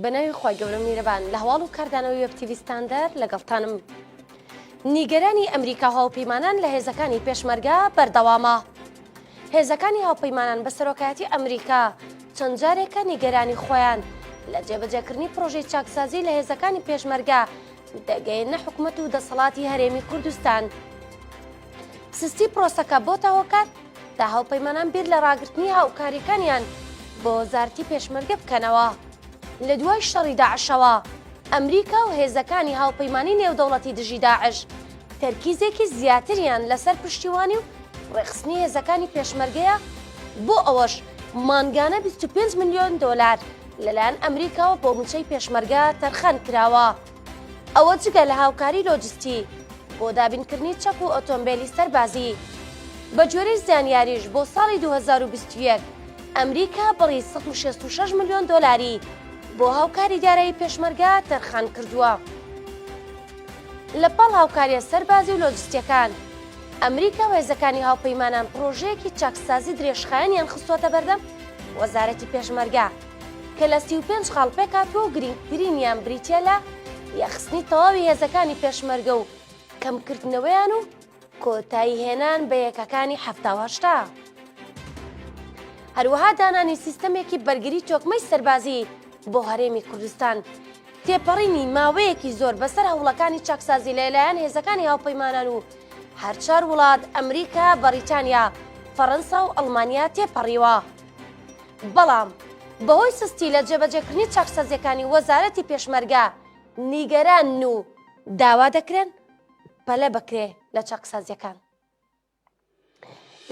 بەناوی خی گەورە میرەبان لە هەواڵ و کاردانەوەی وەبتیویستاندەر لەگەڵتانم. نیگەرانی ئەمریکا هاوپەیمانان لە هێزەکانی پێشمەرگا بەردەوامە. هێزەکانی هاوپەیمانان بە سەرۆکایەتی ئەمریکا چەند جارێکە نیگەرانی خۆیان لە جێبەجێکردنی پرۆژەی چاکسازی لە هێزەکانی پێشمەرگا دەگەیەننە حکومەت و دەسەڵاتی هەرێمی کوردستان سستی پرۆسەکە بۆتە هۆکار تا هاوپەیمانان بیر لە ڕاگررتنی هاوکاریەکانیان بۆ وەزارتی پێشمەرگە بکەنەوە لە دوای شەڕی داعشەوە ئەمریکا و هێزەکانی هاوپەیمانی نێودەوڵەتی دژی داعش تەرکیزێکی زیاتریان لەسەر پشتیوانی و ڕێخستنی هێزەکانی پێشمەرگەیە بۆ ئەوەش مانگانە 25 ملیۆن دۆلار لەلایەن ئەمریکاوە بۆ موچەی پێشمەرگە تەرخان کراوە ئەوە جگە لە هاوکاری لۆجستی بۆ دابینکردنی چەک و ئۆتۆمبیلی سەربازی بەگوێرەی زانیاریش بۆ ساڵی 2021 ئەمریکا بڕی 166 ملیۆن دۆلاری بۆ هاوکاری دارایی پێشمەرگە تەرخان کردووە. لە پاڵ هاوکارییە سەربازی و لۆجستییەکان، ئەمریکا و هێزەکانی هاوپەیمانان پڕۆژەیەکی چاکسازی درێژخایەنیان خستووەتە بەردەم وەزارەتی پێشمەرگە کە لە سی و پێنج خاڵ پێکهاتووە و گرینگترینیان بریتییە لە یەخستنی تەواوی هێزەکانی پێشمەرگە و کەمکردنەوەیان و کۆتایی هێنان بە یەکەکانی حەفتا و هەشتا. هەروەها دانانی سیستەمێکی بەرگری تۆکمەی سەربازی بۆ هەرێمی کوردستان تێپەڕینی ماوەیەکی زۆر بەسەر هەوڵەکانی چاکسازی لەلایەن هێزەکانی هاوپەیمانان و هەرچار وڵات ئەمریکا بەریتانیا فەڕەنسا و ئەڵمانیا تێپەڕیوە بەڵام بەهۆی سستی لە جێبەجێکردنی چاکسازیەکانی وەزارەتی پێشمەرگە نیگەران و داوا دەکرێن پەلە بکرێ لە چاکسازیەکان.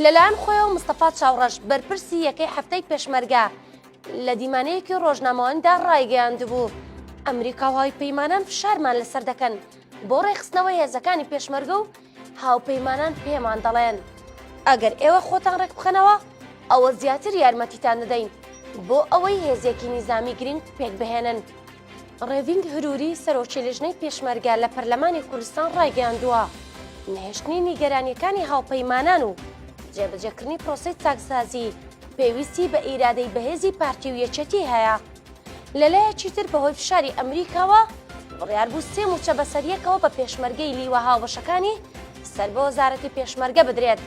لەلایەن خۆیەوە مستەفا چاوڕەش بەرپرسی یەکەی هەفتەی پێشمەرگە لە دیمانەیەکی ڕۆژنامەواندا ڕایگەیاند بوو ئەمریکا و هاوی پەیمانان فشارمان لەسەر دەکەن بۆ ڕێخستنەوەی هێزەکانی پێشمەرگە و هاوپەیمانان پێمان دەڵێن ئەگەر ئێوە خۆتان ڕێک بخەنەوە ئەوە زیاتر یارمەتیتان دەدەین بۆ ئەوەی هێزێکی نیزامی گرنگ پێک بهێنن ڕێڤینگ هروری، سەرۆکی لیژنەی پێشمەرگە لە پەرلەمانی کوردستان ڕایگەیاندووە، نەهێشتنی نیگەرانییەکانی هاوپەیمانان و جێبەجێکردنی پرۆسەی چاکسازی پێویستی بە ئیرادەی بەهێزی پارتی و یەکێتی هەیە. لەلایەکی تر بەهۆی فشاری ئەمریکاوە بڕیار بوو سێ مووچە بەسەریەکەوە بە پێشمەرگەی لیوا هاوبەشەکانی سەر بە وەزارەتی پێشمەرگە بدرێت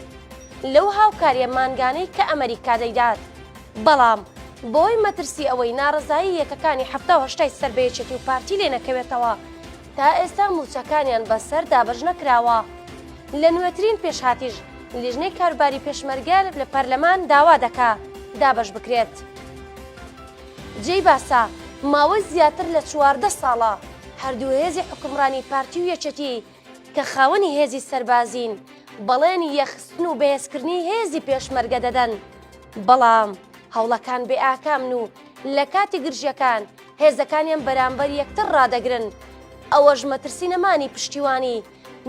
لەو هاوکارییە مانگانەی کە ئەمریکا دەیدات. بەڵام بۆی مەترسی ئەوەی نارەزایی یەکەکانی حەفتا و هەشتای سەر بە یەکێتی و پارتی لێ نەکەوێتەوە تا ئێستا مووچەکانیان بە سەر دابەش نەکراوە لە نوێترین پێشهاتیش لیژنەی کاروباری پێشمەرگەر لە پەرلەمان داوا دەکا دابەش بکرێت. جێی باسە ماوەی زیاتر لە چواردە ساڵە هەردوو هێزی حوکمڕانی پارتی و یەکێتی کە خاوەنی هێزی سەربازین بەڵێنی یەخستن و بەهێزکردنی هێزی پێشمەرگە دەدەن، بەڵام هەوڵەکان بێ ئاکامن و لە کاتی گرژیەکان هێزەکانیان بەرامبەر یەکتر ڕادەگرن، ئەوەش مەترسی نەمانی پشتیوانی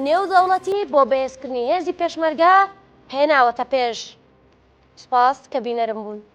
نێودەوڵەتی بۆ بەهێزکردنی هێزی پێشمەرگە هێناوەتە پێش. سپاس کە بینەرم بوون.